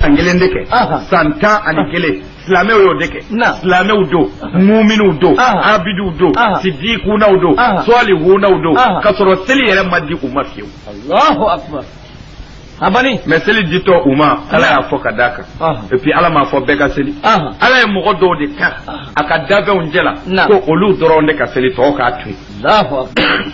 san kelen de kɛ san tan ani kelen silamɛw y'o de kɛ silamɛw don muminiw don abidiw don sidikunaw don sɔlihunaw don ka sɔrɔ seli yɛrɛ ma di u ma fiyewu alahu akbar abani mais seli ditɔ u ma ala y'a fɔ ka d'a kan et puis ala m'a fɔ bɛɛ ka seli ala ye mɔgɔ dɔw de ta a ka danfɛnw cɛ la ko olu dɔrɔn de ka seli tɔw k'a to yen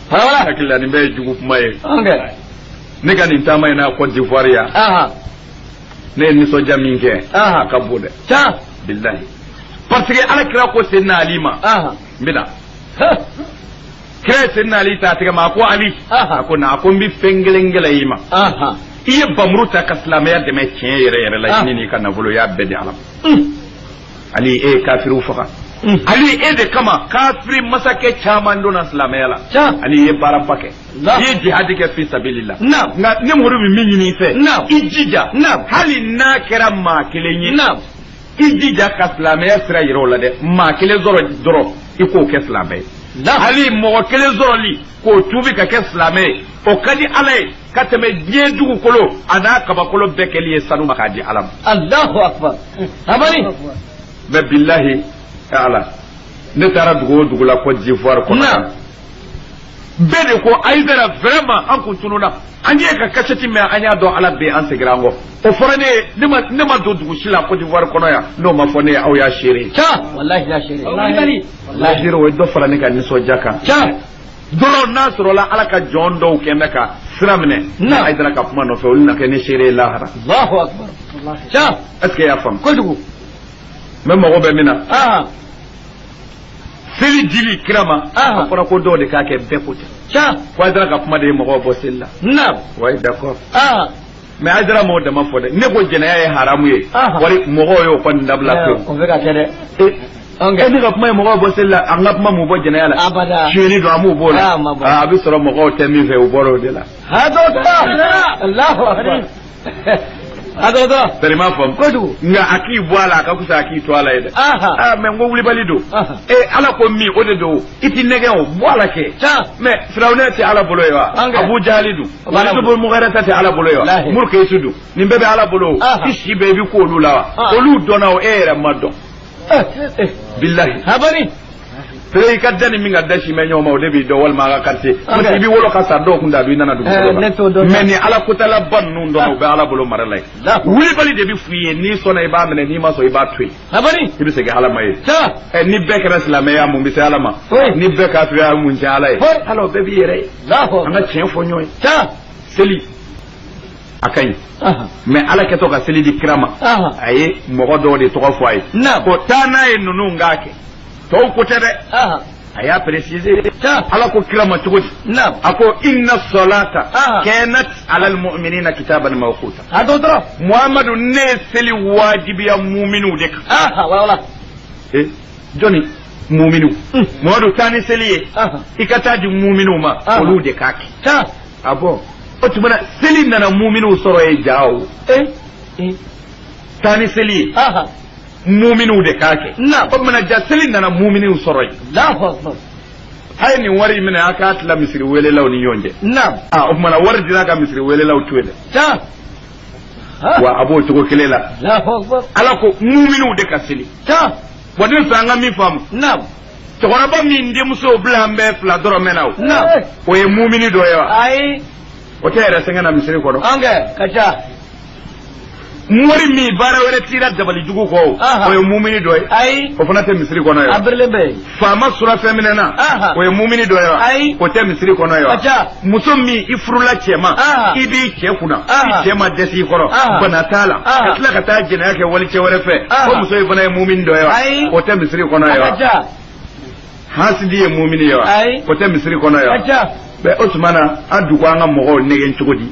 Wala hakili la nin bɛɛ ye jugu kuma ye ne ka nin taama in na Côte d'Ivoire yan ne ye nisɔndiya min kɛ a ka bon dɛ bilahi parce que ala kira ko senna ali ma n bɛna kira ye senna ali ta tɛgɛ ma a ko ali a ko na a ko n bɛ fɛn kelen gɛlɛya i ma i ye bamuru ta ka silamɛya dɛmɛ tiɲɛ yɛrɛ yɛrɛ la i ni n'i ka nafolo y'a bɛɛ di ala ma ali e ye kafiriw faga ali e de kama kafiri masakɛ caman donna silamɛya la ali ye baaraba kɛ i ye jihadi kɛ fi sabililah na nka ne muru bɛ min ɲini i fɛ i jija hali n'a kɛra maa kelen ye i jija ka silamɛya sira yira o la dɛ maa kelen sɔrɔ dɔrɔn i k'o kɛ silamɛ ye hali mɔgɔ kelen sɔrɔli k'o tuubi ka kɛ silamɛ ye o ka di ala ye ka tɛmɛ diɲɛ dugukolo an'a kabakolo bɛɛ kɛli ye sanu ma k'a di ala ma alahu akbar abani mais bilahi taala ne taara dugu o dugu la Côte d'Ivoire kɔnɔ bɛɛ de ko ayidara vraiment an kun tununna an ye ka kasɛti mɛn an y'a dɔn ala bɛ an segira an kɔ o fɔra ne ye ne ma don dugu si la Côte d'Ivoire kɔnɔ yan n'o ma fɔ ne ye aw y'a seere. walahi y'a seere. walahi o ye dɔ fara ne ka nisɔndiya kan. dɔrɔn n'a sɔrɔla ala ka jɔn dɔw kɔni bɛ ka sira minɛ ne ayidara ka kuma nɔfɛ olu na kɛ ne seere ye lahara est-ce que i y'a faamu kojugu mais mago bɛ min na ah. seli dili kira ma ah. a fɔra ko dɔw de k'a kɛ bɛɛ ko tɛ ko ayidara ka kuma de ye mɔgɔw bɔ seli la wa d'accord ah. mais ayidara m'o dama fɔ dɛ ne ko jɛnɛya ye haramu ye wari mɔgɔw y'o kɔni dabila ko ne ka kuma ye mɔgɔw bɔ seli la an ka kuma m'u bɔ jɛnɛya la sonyɛni don a m'u b'o la a bɛ sɔrɔ mɔgɔw tɛ min fɛ u bɔra o de la bari m'a faamu kojugu nka a k'i bɔ a la a ka fisa a k'i to a la ye dɛ aa mais n ko wulibali don ee ala ko min o de don i t'i nɛgɛn o bɔ a la kɛ mais firawuna tɛ ala bolo yen wa abu jahali don O b'ala bolo. mɔgɔ wɛrɛ ta tɛ ala bolo yen wa Lahi. muru k'e su dun nin bɛɛ bɛ ala bolo o. Aha. i si bɛɛ bɛ k'olu la wa Ah. olu dɔnna o e yɛrɛ ma dɔn Eh, eh, bilahi abani pere i ka da ni min ka da sin bɛ ɲɔgɔn ma o de b'i dɔn walima a ka quartier Ah, parce que i bɛ wolo ka sa dɔw kun t'a dɔn i nana dugu Eh, kɔnɔ ne t'o dɔn. mais ni ala kotala ba ninnu dɔn o bɛ ala bolo mara la yen Lahu. wulibali de bɛ f'u ye n'i sɔnna i b'a minɛ n'i ma sɔn i b'a to yen a bari i bɛ segin ala ma ye sa ɛ ni bɛɛ kɛra silamɛ ye a mun bɛ se ala ma Oui. ni bɛɛ kafiriya mun tiɲɛ ala ye Oui. ala o bɛɛ b'i yɛrɛ ye lahu an ka tiɲɛ fɔ ɲɔgɔn ye sa seli a ka ɲi aha mais ala kɛtɔ ka seli di kira ma aha a ye mɔgɔ dɔw de tɔgɔ fɔ a ye Naam. ko taa n'a ye ninnu k'a kɛ tɔw ko tɛ dɛ a y'a préciser ala ko kira ma cogo di a ko inna salata kanat ala almu'minina kitaban mawquta a dɔ dɔrɔn muhamadu ne ye seli wajibiya muminiw de kan wala eh jɔni muminiw hmm. muhamadu taa ni seli ye i ka taa di muminiw ma olu de k'a kɛ ah bon o tuma na seli nana muminiw sɔrɔ yen ja o eh, eh. taa ni seli ye muminiw de k'a kɛ Naam. o tumana ja seli nana muminiw sɔrɔ yen Allahu akbar. a ye nin wari in minɛ a k'a tila misiri welelaw ni ɲɔgɔn cɛ Naam. Ah, o tumana wari dira ka misiri welelaw to yen dɛ Taa. Ha. wa a b'o cogo kelen la Allahu akbar. ala ko muminiw de ka seli Taa. wa ne fɛ an ka min faamu Naam. cɛkɔrɔba min denmuso bila an bɛɛ fila dɔrɔn mɛnna o Naam. o ye mumini dɔ ye wa Ayi. o tɛ yɛrɛ sɛgɛn na misiri kɔnɔ An kɛ ka ca. mori min baara wɛrɛ t'i ra dabali jugu kɔ o Aha. o ye mumini dɔ ye ayi o fana tɛ misiri kɔnɔ yen wa a birilen bɛ yen faama surafɛn minɛna Aha. o ye mumini dɔ ye wa Ayi. o tɛ misiri kɔnɔ yen wa Aja. muso min i furula cɛ ma Aha. i b'i cɛ kunna Aha. i cɛ ma dɛsɛ i kɔrɔ Aha. bana t'a la Aha. ka tila ka taa jɛnɛya kɛ wali cɛ wɛrɛ fɛ Aha. o muso in fana ye mumini dɔ ye Ayi. wa o tɛ misiri kɔnɔ yen wa aja hasidi ye mumini ye wa Ayi. o tɛ misiri kɔnɔ yen wa aja Bɛ o tuma na an dun ko an ka mɔgɔw nɛgɛn cogo di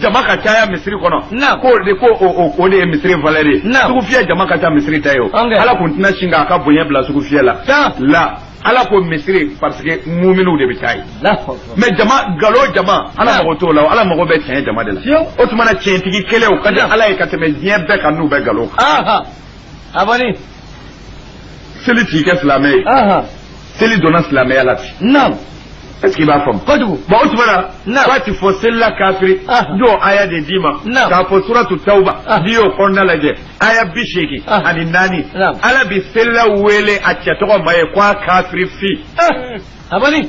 jama ka caya misiri kɔnɔ ko de ko o de ye misiri valeur ye sugufiyɛ jama ka ca misiri ta ye o ala kun tɛna sin k'a ka bonya bila sugufiyɛ la la ala ko misiri parce que muminiw de bɛ taa yen mais jama galo jama ala mago t'o la ala mago bɛ tiɲɛ jama de la o tuma na tiɲɛtigi kelen o ka di ala ye ka tɛmɛ diɲɛ bɛɛ kan n'u bɛ galo kan seli t'i kɛ silamɛ ye seli donna silamɛya la ten naamu est ce que i b'a faamu kojugu bon o tuma na k'a ti fɔ selila kafiri don aya de d'i ma k'a fɔ suratu tawuba n'i y'o kɔnɔna lajɛ aya biseegin ani naani ala bi selila wele a cɛ tɔgɔ ma yen ko a kafiri fi a bani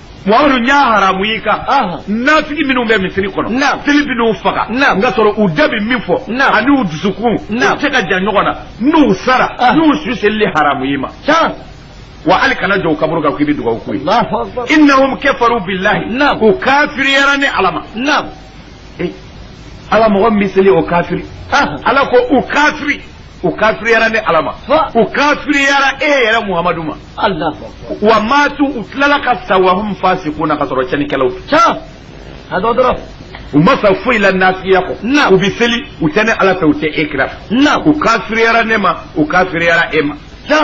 wawlu n y'a haramu i kan nafigi minnu bɛ misiri kɔnɔ tile bɛ n'u faga nka sɔrɔ u da bɛ min fɔ ani u dusukun u tɛ ka ja ɲɔgɔn na n'u sara n y'u su selili haramu i ma wa hali kana jɔ u kaburu kan k'i bɛ dugawu k'u ye innahum kafaru billahi u kafiriyara ne ala ma ala mɔgɔ min bɛ seli o kafiri ala ko u kafiri u kafiriyara ne ala ma u kafiriyara e yɛrɛ muhamadu ma wa matu u tilala ka sa wahum fasikuna ka sɔrɔ cɛnnikɛlaw a dɔ dɔrɔn u ma sa foyi la nafigiya kɔ u bɛ seli u tɛ ne ala fɛ u tɛ e kira fɛ u kafiriyara ne ma u kafiriyara e ma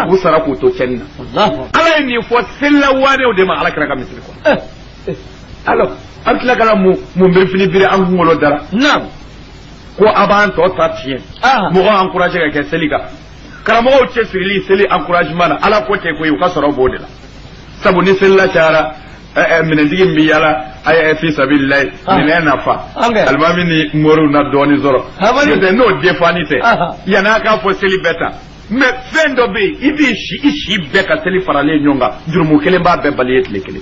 u sara k'u to cɛnni na ala ye nin fɔ selila waanew de ma ala kira ka misiri kɔnɔ eh, eh. alors an tila ka na mun mun birifini biri an kunkolo dara ko a b'an tɔ ta tiɲɛ ah. mɔgɔ encouragé ka kɛ seli kan karamɔgɔw cɛsirili seli encouragement na ala ko tɛ koyi u ka sɔrɔ b'o de la sabu ni selila cayara eh, eh, minɛntigi min bɛ yaala a ye fi sabililayi ah. minɛn na fa alimami ni moriw na dɔɔnin sɔrɔ n'o tɛ n'o defani tɛ ah. yanni a k'a fɔ seli bɛɛ ta mais fɛn dɔ bɛ yen i b'i si i si bɛɛ ka seli faralen ɲɔgɔn kan jurumu kelen b'a bɛɛ balayer tile kelen.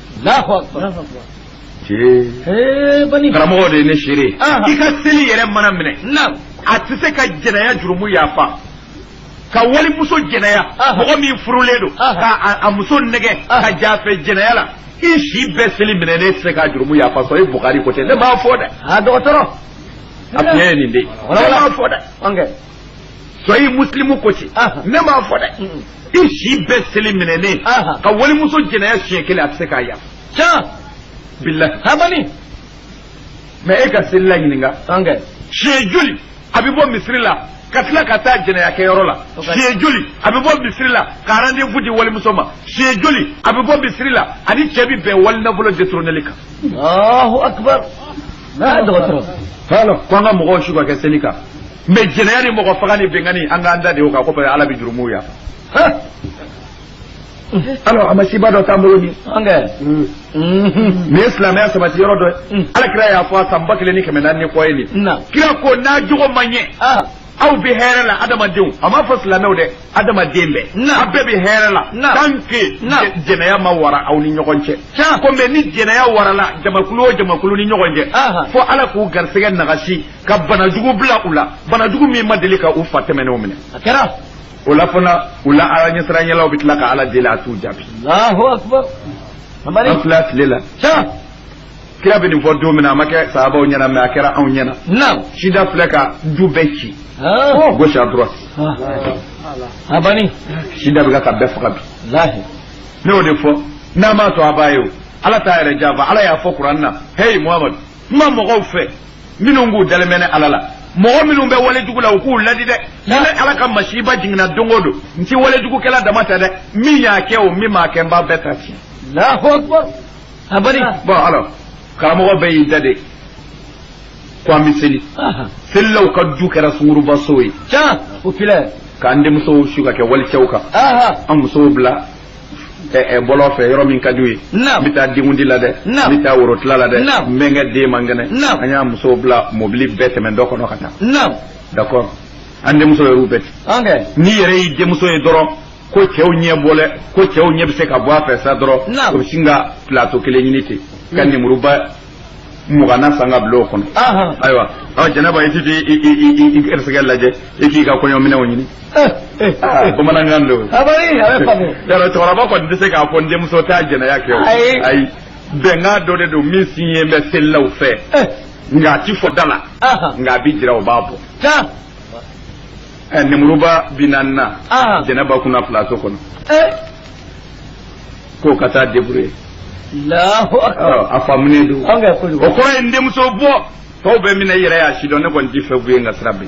karamɔgɔ de ye ne seere i ka seli yɛrɛ mana minɛ a tɛ se ka jɛnɛya jurumu yafa ka walimuso jɛnɛya mɔgɔ min furulen don ka a muso nɛgɛn ka j'a fɛ jɛnɛya la i si bɛɛ seli minɛnen tɛ se ka jurumu yafa sɔyi bukari ko ten ne m'a fɔ dɛ dɔgɔtɔrɔ a tiɲɛ ye nin de ye ne m'a fɔ dɛ sɔyi musilimu ko ten ne m'a fɔ dɛ i si bɛɛ seli minɛnen ka walimuso jɛnɛya siɲɛ kelen a tɛ se k'a yafa can bilahi habani mais e ka selila ɲininka siɲɛ joli a bɛ bɔ misiri la ka tila ka taa jɛnɛya kɛyɔrɔ la siɲɛ joli a bɛ bɔ misiri la ka rendez-vous di walimuso ma siɲɛ joli a bɛ bɔ misiri la a ni cɛ bɛ bɛn wali nafolo détourneli kan. Alahu akibaru. Dɔgɔtɔrɔ. K'an ka mɔgɔw su ka kɛ seli kan. mais jɛnɛya ni mɔgɔfaga ni binkanni an k'an da de o kan ko ala bɛ jurumuw yafa alors a masiba dɔ t'an bolo ni an kan nin ye silamɛya sabati yɔrɔ dɔ ye ala kira y'a fɔ a san ba kelen ni kɛmɛ naani ni kɔ ye nin kira ko n'a jogo man ɲɛ aw bɛ hɛrɛ la adamadenw a m'a fɔ silamɛw dɛ adamaden bɛɛ a bɛɛ bɛ hɛrɛ la tant que jɛnɛya ma wara aw ni ɲɔgɔn cɛ ko mais ni jɛnɛya warala jamakulu o jamakulu ni ɲɔgɔn cɛ fo ala k'u garisɛgɛ nagasi ka banajugu bila u la banajugu min ma deli ka u fa tɛmɛnenw minɛ a kɛra o la fana u la ala ɲɛsiranyɛlaw bɛ tila ka ala deli a t'u jaabi alahu akubar mamari an filɛ tile la sa kira bɛ nin fɔ don min na a ma kɛ sahabaw ɲɛna mais a kɛra anw ɲɛna naam sida filɛ ka du bɛɛ ci ah gauche à droite a bani sida bɛ ka bɛɛ faga bilahi ne y'o de fɔ n'a m'a to a b'a ye o ala t'a yɛrɛ janfa ala y'a fɔ kuran na heyi muhamadu kuma mɔgɔw fɛ minnu k'u dalen bɛ ne ala la mɔgɔ minnu bɛ wale jugu la u k'u ladi dɛ ne ala ka masiba jiginna don o don n tɛ wale jugukɛla dama ta dɛ min y'a kɛ o min m'a kɛ n b'a bɛɛ ta tiɲɛ. alahu akbar abari. bɔn alors karamɔgɔ bɛɛ y'i da de ko an bɛ seli selilaw ka du kɛra sunguruba so ye. tiɲɛ o filɛ. k'an denmusow su ka kɛ walicɛw kan an musow bila ɛ bɔlɔn fɛ yɔrɔ min ka d'u ye n bɛ taa denkundi la dɛ n bɛ taa worotila la dɛ n bɛ n ka den man kɛnɛ an y'an musow bila mobili bɛ tɛmɛ dɔ kɔnɔ ka taa d'accord an denmuso yɛrɛw bɛɛ ten n'i yɛrɛ y'i denmuso ye dɔrɔn ko cɛw ɲɛ bɔlen ko cɛw ɲɛ bɛ se ka bɔ a fɛ sa dɔrɔn o bɛ sin ka plateau kelen ɲini ten ka lemuruba mugan na san ka bila o kɔnɔ ayiwa ɔ jɛnɛba i ti ti i i i i garisɛgɛ lajɛ i k'i ka kɔɲɔminɛnw ɲini bamanankan don yɔrɔ cɛkɔrɔba kɔni tɛ se k'a fɔ n denmuso taa jɛnɛya kɛ o ayi bɛnkan dɔ de don min siɲe bɛ selilaw fɛ nka a ti fɔ da la nka a bi jira o b'a bɔ nemuruba bi naani na jɛnɛba kunna plateau kɔnɔ k'o ka taa débrouiller a faamunen don o kɔrɔ ye n denmuso bɔ tɔw bɛ min na i yɛrɛ y'a sidɔn ne kɔni ti fɛ k'u ye n ka sira bi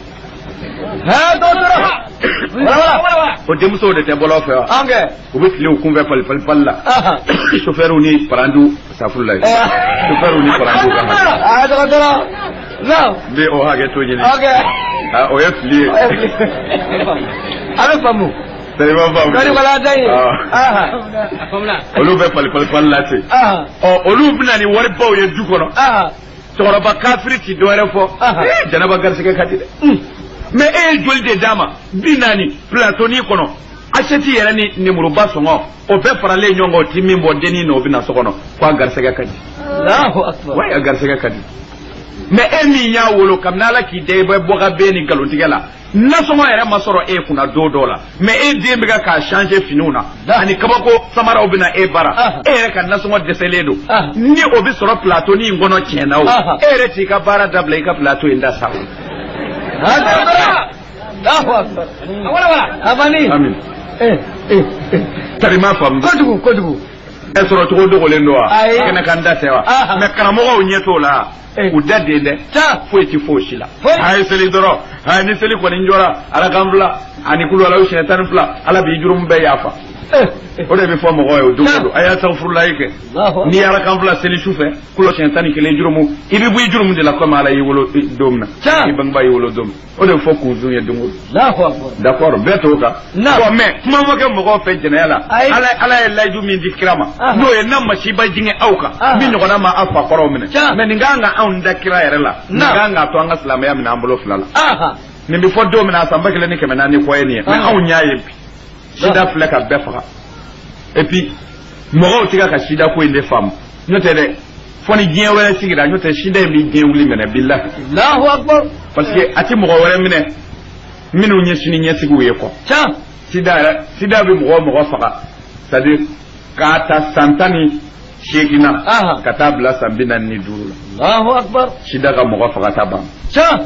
o denmusow de tɛ bɔlɔn fɛ wa u bɛ tile u kun fɛ palipali pali la sofɛriw ni parantiw safurulayi sofɛriw ni parantiw ka n bɛ o hakɛto ɲini o ye fili ye a bɛ faamu olu bɛ palipalipali la ten ɔ olu bɛ na ni wari baw ye du kɔnɔ cɛkɔrɔba kafiri ti dɔwɛrɛ fɔ jɛnɛba garisɛgɛ ka di dɛ mɛ e ye joli de d'a ma bi naani plateaunin kɔnɔ aseti yɛrɛ ni nemuruba sɔngɔ o bɛɛ faralen ɲɔgɔn kan o ti min bɔ dennin n'o bɛ na so kɔnɔ ko a garisɛgɛ ka di wa a garisɛgɛ ka di mɛ e min y'a wolo kabini ala k'i da i bɛ bɔka bɛ ni nkalontigɛ la nasɔngɔ yɛrɛ ma sɔrɔ e kunna don dɔ la mɛ e den bɛ k'a changer finiw na ani kabako samaraw bɛ na e bara ah. e yɛrɛ ka nasɔngɔ dɛsɛlen don ah. ni o bɛ sɔrɔ plateaunin in kɔnɔ tiɲɛ na o ah. e yɛrɛ t'i ka baara dabila i ka plateau in ta sa tari ma faamu kojugu kojugu a sɔrɔ cogo dogolen don wa kɛnɛ kan dan tɛ wa mɛ karamɔgɔw ɲɛ t'o la u da den dɛ foyi tɛ fɔ si la a ye seli dɔrɔn a ni seli kɔni jɔra arakan fila ani kulu ala siɲɛ tan ni fila ala b'i jurumu bɛɛ yafa o de bɛ fɔ mɔgɔ ye o don o don a ye safurulayi kɛ n'i arakan fila seli su fɛ kulo siɲɛ tan ni kelen jurumu i bɛ bɔ i jurumu de la komi ala y'i wolo don min na i bangebaa y'i wolo don min o de fɔ k'o don ye don o don d'accord bɛɛ t'o kan bon mais kuma ma kɛ mɔgɔw fɛ jɛnɛya la ala ala ye layidu min di kira ma n'o ye n na masiba jigin aw kan min ɲɔgɔnna ma aw fa kɔrɔw minɛ mais nin ka kan ka anw da kira yɛrɛ la nin ka kan k'a to an ka silamɛya minɛ an bolo fila la nin bɛ fɔ don min na a san ba kelen ni kɛmɛ naani kɔ ye nin ye mais anw y'a ye bi sida filɛ ka bɛɛ faga et puis mɔgɔw tɛ ka ka sida ko in de faamu n'o tɛ dɛ fo ni diɲɛ wɛrɛ sigira n'o tɛ sida in bɛ diɲɛ wuli minɛ bilahi Allahu akbar parce que a tɛ mɔgɔ wɛrɛ minɛ minnu ye sini ɲɛsigiw ye kɔ can sida yɛrɛ sida bɛ mɔgɔ o mɔgɔ faga c'est à dire k'a ta san tan ni seegin na Aha. ka taa bila san bi naani ni duuru la Allahu akbar sida ka mɔgɔ faga ta ban can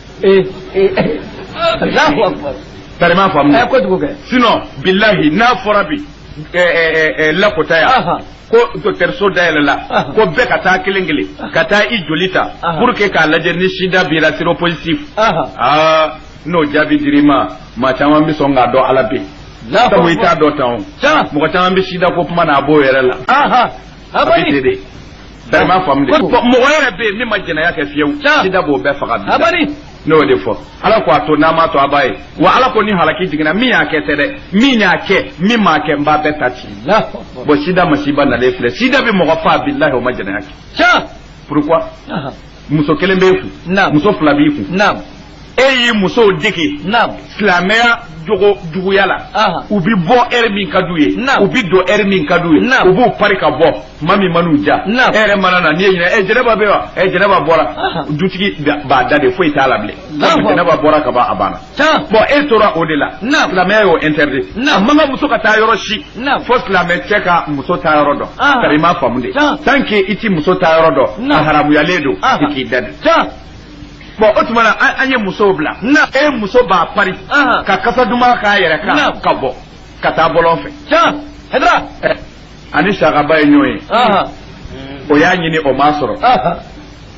ee ee alahu akubar tari i m'a faamu ɛ kojugu kɛ sinon bilahi n'a fɔra bi ɛ ɛ ɛ lakota yan Aha. ko dɔkitɛriso dayɛlɛla Aha. ko bɛɛ ka taa kelen kelen ka taa i joli ta Aha. pour que k'a lajɛ ni sida b'i ra séropositif aha aa n'o jaabi dir'i ma maa caman bɛ sɔn k'a dɔn ala bɛ yen alahu sabu i t'a akubar dɔn tan o can mɔgɔ caman bɛ sida ko kuma na a b'o yɛrɛ la aha a bɛ ten de tari i m'a faamu de mɔgɔ yɛrɛ bɛ yen min ma jɛnɛya kɛ fiyewu sida b'o bɛɛ faga bilahi ne y'o de fɔ ala ko a to n'a m'a to a b'a ye wa ala ko ni halaki jiginna min y'a kɛ tɛ dɛ min y'a kɛ min m'a kɛ n b'a bɛɛ ta ci bon sida masiba nalen filɛ sida bɛ mɔgɔ faa bilahi o ma jɛnɛya kɛ pourquoi muso kelen b'e kun Naam. muso fila b'i kun naam e y'i musow dege naam silamɛya jogo juguya la Aha. u bi bɔ heure min ka d'u ye Naam. u bi don heure min ka d'u ye Naam. u b'u pari ka bɔ tuma min man'u ja e Naam. yɛrɛ mana na n'i y'a ɲini ɛ jɛnɛba bɛ wa ɛ jɛnɛba bɔra Aha. dutigi da- b'a da de foyi t'a la bilen Naam. jɛnɛba bɔra ka ban a banna Tan bon e tora o de la silamɛya y'o interdit a man kan muso ka taa yɔrɔ si fo silamɛ cɛ ka muso taa yɔrɔ dɔn ah. tari i m'a faamu de tant que i tɛ muso taa yɔrɔ dɔn a haramuyalen don ah. i k'i da de bon o tuma na an ye musow bila e muso b'a pari ah. ka kasa duman k'a yɛrɛ kan ka bɔ ka taa bɔlɔn fɛ tan ani sahaba ye ɲɔgɔn ye o y'a ɲini o m'a sɔrɔ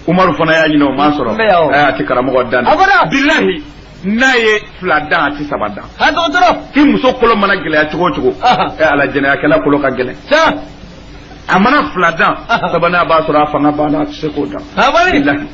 umaru fana y'a ɲini o m'a sɔrɔ a tɛ karamɔgɔ dan bilahi n'a ye fila dan a tɛ saba dan i muso kolo mana gɛlɛya cogo o cogo ala jɛnɛyakɛla kolo ka gɛlɛn a mana fila dan sabanan b'a sɔrɔ a fanga banna a tɛ se k'o dan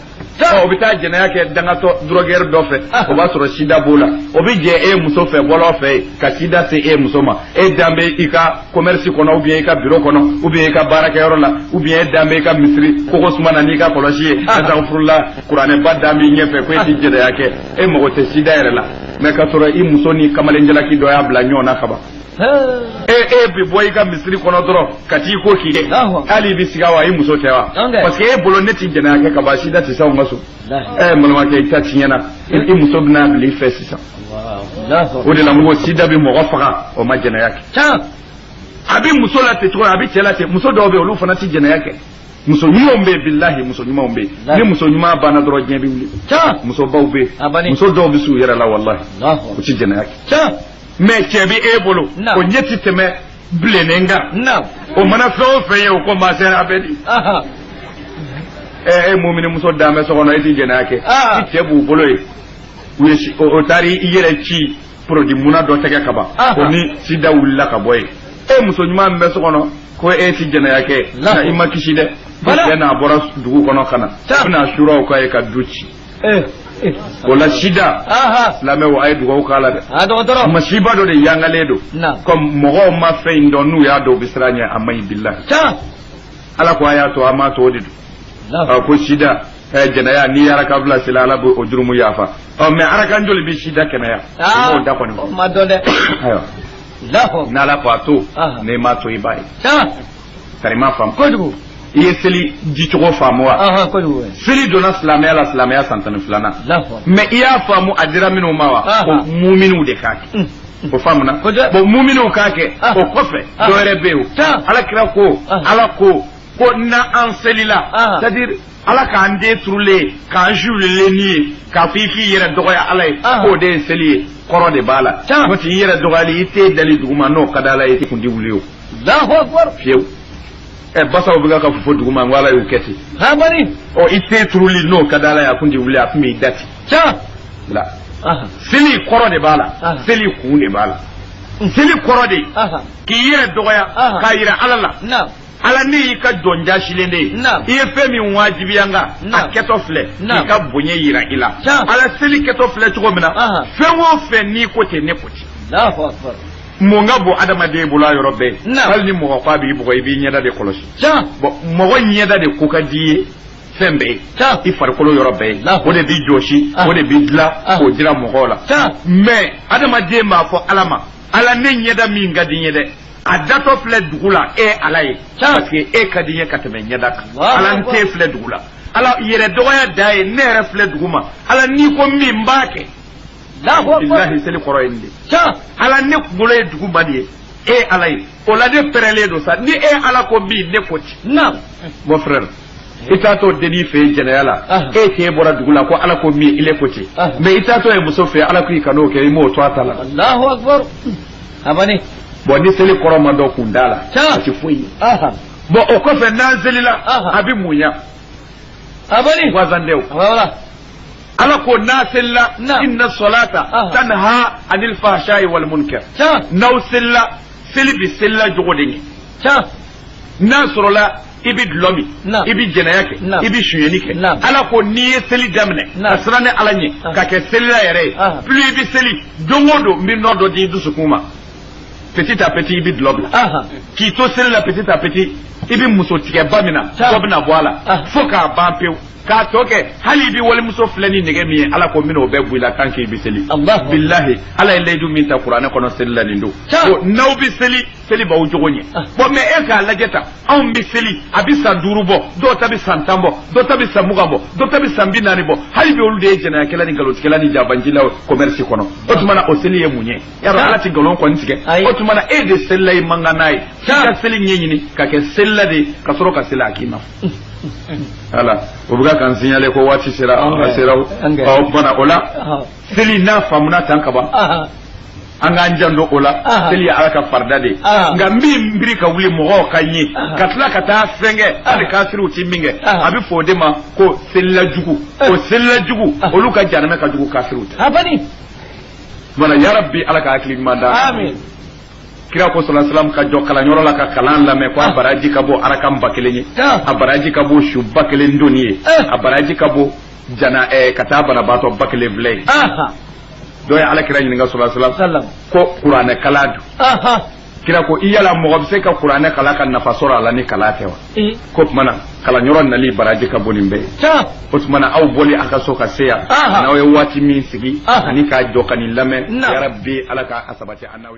o bɛ taa jɛnɛya kɛ dangatɔ drogueur dɔ fɛ o b'a sɔrɔ sida b'o la o bɛ jɛ e muso fɛ bɔlɔ fɛ yen ka sida se e muso ma e dan bɛ i ka commerce kɔnɔ ou bien i ka bureau kɔnɔ ou bien i ka baarakɛyɔrɔ la ou bien e dan bɛ i ka misiri kogo suma na n'i ka kɔlɔsi ye azanfurula kuranɛba dan b'i ɲɛfɛ ko e ti jɛnɛya kɛ e mago tɛ sida yɛrɛ la mais ka sɔrɔ i muso ni kamalenjalaki dɔ y'a bila ɲɔgɔn na kaban e bɛ bɔ i ka misiri kɔnɔ dɔrɔn ka t'i ko k'i dɛ hali i bɛ siga wa i muso tɛ wa parce que e bolo ne tɛ jɛnɛya kɛ ka ban sida tɛ se anw ka so n balimakɛ i ta tiɲɛna i muso bɛna bila i fɛ sisan o de la n ko sida bɛ mɔgɔ faga o ma jɛnɛya kɛ a bɛ muso la ten cogo a bɛ cɛ la ten muso dɔw bɛ yen olu fana tɛ jɛnɛya kɛ muso ɲumanw bɛ yen bilahi muso ɲumanw bɛ yen ni muso ɲuman banna dɔrɔn diɲɛ bɛ wuli muso baw bɛ yen muso dɔw bɛ s'u yɛrɛ la walahi u tɛ jɛnɛya kɛ mais cɛ bɛ e bolo o ɲɛ tɛ tɛmɛ bilennen kan o mana fɛn o fɛn ye o ko ma chère a bɛ di ɛ e muminimuso dan bɛ so kɔnɔ e tɛ jɛnɛya kɛ i cɛ b'u bolo ye o taara i yɛrɛ ci produit muna dɔ tɛgɛ kaban o ni sida wulila ka bɔ yen e muso ɲuman bɛ so kɔnɔ ko e tɛ jɛnɛya kɛ nka i ma kisi dɛ cɛ n'a bɔra dugu kɔnɔ ka na a bɛna suraw k'a ye ka du ci eh, eh. o la sida silamɛw a ye dugawu k'a la dɛ masiba dɔ de yangalen don comme mɔgɔw ma fɛn in dɔn n'u y'a dɔn u bɛ siran ɲɛ a man ɲi bilahi ala ko a y'a to an m'a to o de don ko sida Eh, jɛnɛya n'i ye araka fila seli ala b'o jurumu yafa ɔ mais arakan joli bɛ sida kɛnɛya ah, o da kɔni ma dɔn dɛ ayiwa n'ala ko a to n'i m'a to i b'a ye Tari i m'a faamu, kojugu, i ye seli dicogo faamu wa, ɔnhɔn, kojugu, seli donna silamɛya la silamɛya san tan ni filanan, mais i y'a faamu a dira minnu ma wa, ko muminiw de k'a kɛ. Mm. o faamuna bon muminuw k'a kɛ ah. o kɔfɛ ah. dɔ wɛrɛ bɛ yen o ala kira ko ah. ala ko ko n'an selila c'est à dire ala k'an ten turulen k'an suulilen nin ye k'a fɔ i k'i yɛrɛ dɔgɔya ala ye k'o de ye seli ye kɔrɔ de b'a la n'o tɛ i yɛrɛ dɔgɔyali i ten dali duguma n'o ka d'ala ye i kun tɛ wuli o fiyewu ɛ basaw bɛ ka fofo duguma n ko ala y'u kɛ ten ɔ i ten turuli n'o ka d'ala ye a kun t'i wuli a tun b'i da ten la seli kɔrɔ de b'a la seli kun de b'a la seli kɔrɔ de k'i yɛrɛ dɔgɔya k'a jira ala la ala ne y'i ka jɔn jasilen de ye Naam. i ye fɛn min wajibiya n kan a Naam. kɛtɔ filɛ Naam. k'i ka bonya jira i la Tiɲɛ. ala seli kɛtɔ filɛ cogo min na Ahan. fɛn o fɛn n'i ko ten ne ko ten Allahu akbar. mun ka bon adamaden bolo a yɔrɔ bɛɛ Naam. hali ni mɔgɔ ko a b'i bugɔ i b'i ɲɛda de kɔlɔsi Tiɲɛ. bon mɔgɔ ɲɛda de ko ka di i ye fɛn bɛɛ ye Tiɲɛ. i farikolo yɔrɔ bɛɛ ye Naam. o de b'i jɔsi Ah. o de b'i dilan Ah. k'o jira mɔgɔw la Tiɲɛ. mais adamaden b'a fɔ ala ma ala ne ɲɛda min ka di n ye dɛ a datɔ filɛ dugu la e ala ye parce que e ka di n ye ka tɛmɛ ɲɛda kan ala n ten filɛ dugu la ala yɛrɛ dɔgɔya dan ye ne yɛrɛ filɛ dugu ma ala n'i ko min n b'a kɛ bilahi seli kɔrɔ ye nin de ala ne kunkolo ye dugu ma de ye e ala ye o la ne pɛrɛlen don sa ni e ala ko min ne ko ten mon frère i taatɔ denin fɛ jɛnɛya la e k'e bɔra dugu la ko ala ko min i le ko ten mais i taatɔ ye muso fɛ ala ko i kan'o kɛ i m'o to a ta la alahu akbar abani bon ni seli kɔrɔ ma dɔn kun da la a tɛ foyi ye bon o kɔfɛ n'an selila a bɛ mun ɲa abani wazan dew wala ala ko n'aw selila Na'am. inna salata Aha. tanha anil fahsha'i wal munkar can n'aw selila seli bi selila jogo de ɲɛ can n'a sɔrɔla i bɛ dulɔ min Na'am. i bɛ jɛnɛya kɛ Na'am. i bɛ sonyɛni kɛ Na'am. ala ko n'i ye seli daminɛ ka Na'am. siran ne ala ɲɛ Aha. ka kɛ selila yɛrɛ ye Aha. plus i bɛ seli don o don n bɛ nɔɔrɔ dɔ di i dusukun ma petit à petit i bɛ dulɔ bila k'i to seli la petit à petit i bɛ muso tigɛba min na dɔ bɛna bɔ a la fo k'a ban pewu k'a tɔ kɛ hali i bɛ walimuso filɛ ni nɛgɛ min ye ala ko n bɛ n'o bɛɛ bɔ i la tant que i bɛ seli bilahi ala ye layidu min ta kuranɛ kɔnɔ seli la nin don ko n'aw bɛ seli seli b'aw jogo ɲɛ bon mais e k'a lajɛ tan anw bɛ seli a bɛ san duuru bɔ dɔw ta bɛ san tan bɔ dɔw ta bɛ san mugan bɔ dɔw ta bɛ san binaani bɔ hali bi olu de ye jɛnɛyakɛla ni nkalontigɛla ni jabanjilaw commerce kɔnɔ o tuma na o seli ye mun ye yɔrɔ ala tɛ nkalon kɔni tigɛ o tuma na e de selila i man kan n'a ye i ka seli ɲɛɲini ka kɛ selila de ka sɔrɔ ka seli a k'i ma ala o bɛ ka kan signale ko waati sera a sera o tuma o la seli n'a faamuna tan ka ban an k'an janto o la seli ye ala ka farida de ye nka n bi n biri ka wuli mɔgɔw ka n ye ka tila ka taa fɛn kɛ hali kafiriw ti min kɛ a bɛ fɔ o de ma ko selila jugu o selila jugu olu ka janamɛ ka jugu kafiriw ta ye. wala yarabi ala ka hakili ɲuman da amin kira ko sallallahu alayhi wasallam ka jɔ kalanyɔrɔ la ka kalan lamɛn ko a ah. baraji ka bɔ arakan ba kelen ye ah. a baraji ka bɔ su ba kelen doni ye eh. a baraji ka bɔ jana eh, ka taa banabaatɔ ba kelen filɛ ye ah. dɔ ye ala kira ɲininka sallallahu alayhi wasallam ko kuranɛ kalan dun kira ko i yala mɔgɔ bɛ se ka kuranɛ kalan ka nafa sɔrɔ a la ni kalan tɛ wa k'o tuma na kalanyɔrɔ nali baraji ka bon nin bɛɛ ye o tuma na aw bɔli a ka so ka se yan n'aw ye waati min sigi ani ka jɔ ka nin lamɛn yarabi ala ka a sabati an n'aw